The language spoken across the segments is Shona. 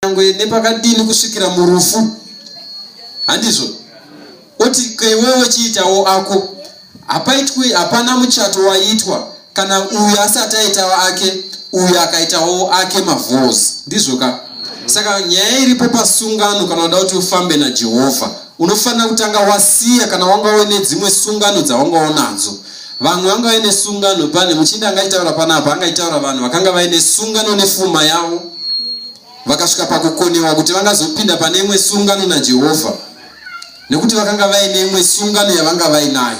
nyangwe nepakadini kusvikira murufu handizvo oti keiwewe chiitawo ako hapaitwi hapana muchato waitwa kana uyu asati aitawo ake uyu akaitawo ake mavhozi ndizvo ka saka nyaya iripo pasungano kana uda kuti ufambe najehovha unofanira kutanga wasiya kana wanga une dzimwe sungano dzawanga unadzo Vamwe vanga vaine sungano pane muchinda angaitaura panapa angaitaura vanhu vakanga vaine sungano nefuma yavo vakasvika pakukonewa kuti vangazopinda pane imwe sungano naJehovha nekuti vakanga vaine imwe sungano yavanga vainayo.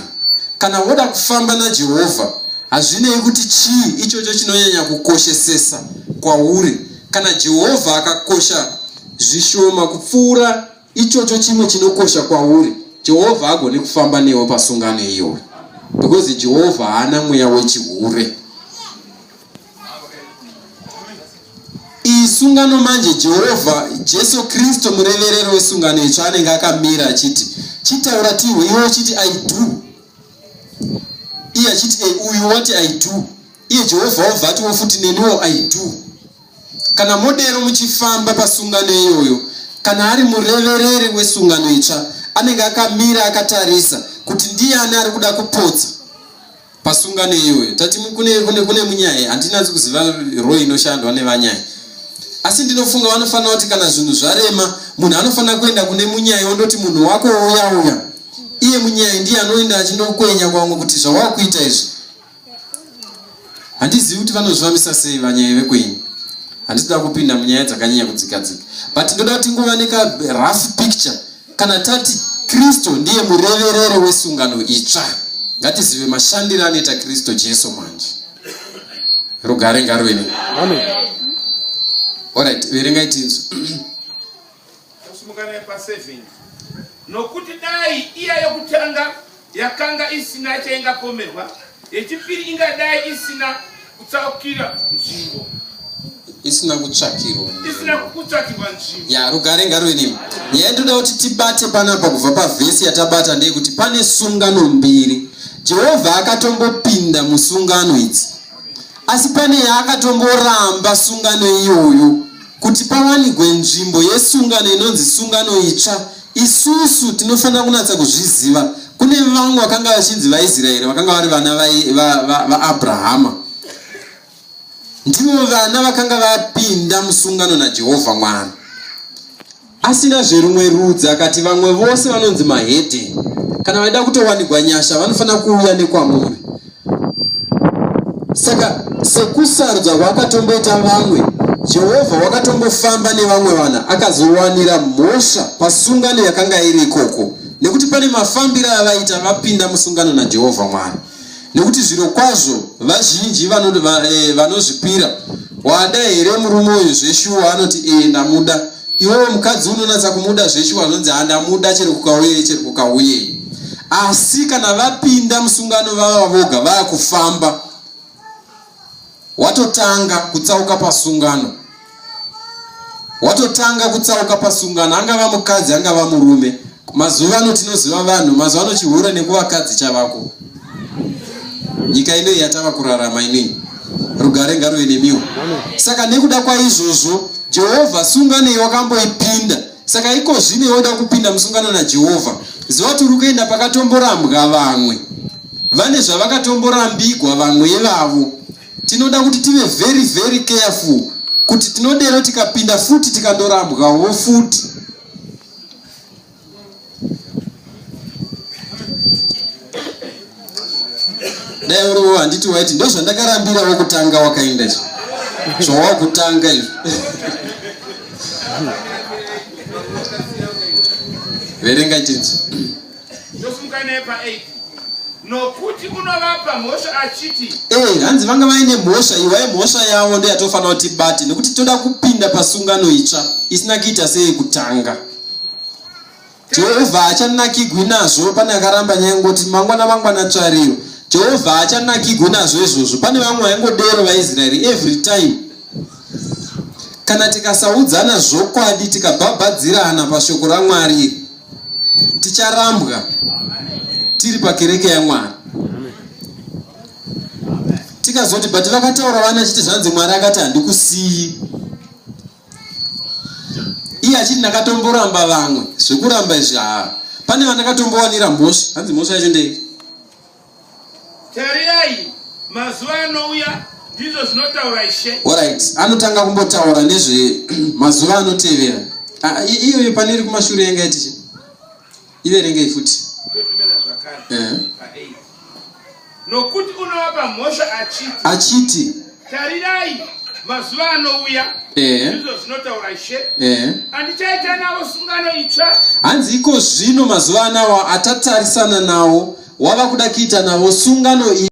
Kana woda kufamba naJehovha hazvinei kuti chii ichocho chinonyanya kukoshesesa kwauri kana Jehovha akakosha zvishoma kupfuura ichocho chimwe chinokosha kwauri jehovha agone kufamba newe pasungano iyoyo because jehovha haana mweya wechihure iyi sungano manje jehovha jesu kristu mureverero wesungano itsva anenge akamira achiti chitaura tihwe iwe uchiti i do iye achiti e uyu wati i do iye jehovha wobva atiwo futi neniwo i do Kana modero muchifamba pasungano iyoyo, kana ari murevereri wesungano itsva, anenge akamira akatarisa kuti ndiani ari kuda kupotsa pasungano iyoyo. Tati kune, kune, kune munyai, handinanzi kuziva roi inoshandwa nevanyai asi ndinofunga vanofanira kuti kana zvinhu zvarema munhu anofanira kuenda kune munyai ondoti munhu wako wouya uya iye munyai ndiye anoenda achindokwenya kwamwe kuti zvawakuita izvi handizivi kuti vanozvivamisa sei vanyaya vekwenyu handisida kupinda munyaya dzakanyanya kudzikadzika but ndoda kuti ngova nekarough picture kana tati kristu ndiye murevereri wesungano itsva ngatizive mashandiro anoita kristu jesu manje rugare ngaruve nei orit verengai tinzwa Kusimuka naye pa 7 nokuti dai iya yokutanga yakanga isina chaingapomerwa, yechipiri ingadai isina kutsakira nzvimbo isina kutsvakirwa isina kutsvakirwa nzvimbo ya rugare ngaruve nemi nyaya ndoda kuti tibate panapa kubva pavhesi yatabata ndeyekuti pane sungano mbiri jehovha akatombopinda musungano idzi asi pane yaakatomboramba sungano iyoyo Kuti pawanigwe nzvimbo yesungano inonzi sungano itsva, isusu tinofanira kunatsa kuzviziva. Kune vamwe vakanga vachinzi vaIsraeri vakanga vari vana vaAbrahama va, va, va ndivo vana vakanga vapinda musungano naJehovha Mwari. Asina zverumwe rudzi akati vamwe vose vanonzi mahedheni kana vaida kutowanigwa nyasha vanofanira kuuya nekwamuri saka sekusarudza kwakatomboita vamwe jehovha wakatombofamba nevamwe vanhu akazowanira mhosva pasungano yakanga iri ikoko nekuti pane mafambiro avaita vapinda musungano najehovha mwari nekuti zvirokwazvo vazhinji vanoti va, eh, vanozvipira wada here murume uyu zveshuwa anoti ee eh, ndamuda iwewe mukadzi unonatsa kumuda zveshuwa anonzi handamuda ah, chero kukauye chero kukauye asi kana vapinda musungano vava voga vava kufamba watotanga kutsauka pasungano watotanga kutsauka pasungano angava mukadzi angava murume mazuva ano tinoziva vanhu mazuva ano chihure nekuvakadzi chavako nyika inoi yatava kurarama inei rugare ngaruve nemiwo saka nekuda kwaizvozvo jehovha sunganei wakamboipinda saka iko zvino iwe uda kupinda musungano najehovha ziva kuti uri kuenda pakatomborambwa vamwe vane zvavakatomborambigwa vamwe ivavo tinoda kuti tive very very careful kuti tinodero tikapinda futi tikandorambwawo futi dai uriwo handiti waiti ndozvandakarambira wokutanga wakainda izvo zvawakutanga izvo verenga chinzi nokuti unovapa mhosva achiti ee hanzi vanga vaine mhosva iwaye mhosva yavo ndoyatofanira kuti bate nekuti toda kupinda pasungano itsva isina kuita seyekutanga jehovha haachanakigwi nazvo pane akaramba nyaya ngoti mangwana mangwana tsvariro jehovha haachanakigwi nazvo izvozvo pane vamwe vaingodero vaisraeri every time kana tikasaudzana zvokwadi tikabhabhadzirana pashoko ramwari ticharambwa tiri pakereke yamwari tikazoti but vakataura vana chiti zvanzi mwari akati handikusiyi iye achiti ndakatomboramba vamwe zvekuramba izvi haa pane vandakatombowanira mhosva hanzi mhosva yacho ndei tarirai mazuva anouya ndizvo zvinotaura ishe orit anotanga kumbotaura nezvemazuva anotevera ah, iyoyo pane iri kumashure yanga yatichi iverengei futi nokuti unovapa mhosva achiti achiti tarirai mazuva anouya izvo zvinotaura ishe andichaita navo sungano itsva hanzi iko zvino mazuva anawa atatarisana nawo wava kuda kuita navo sungano i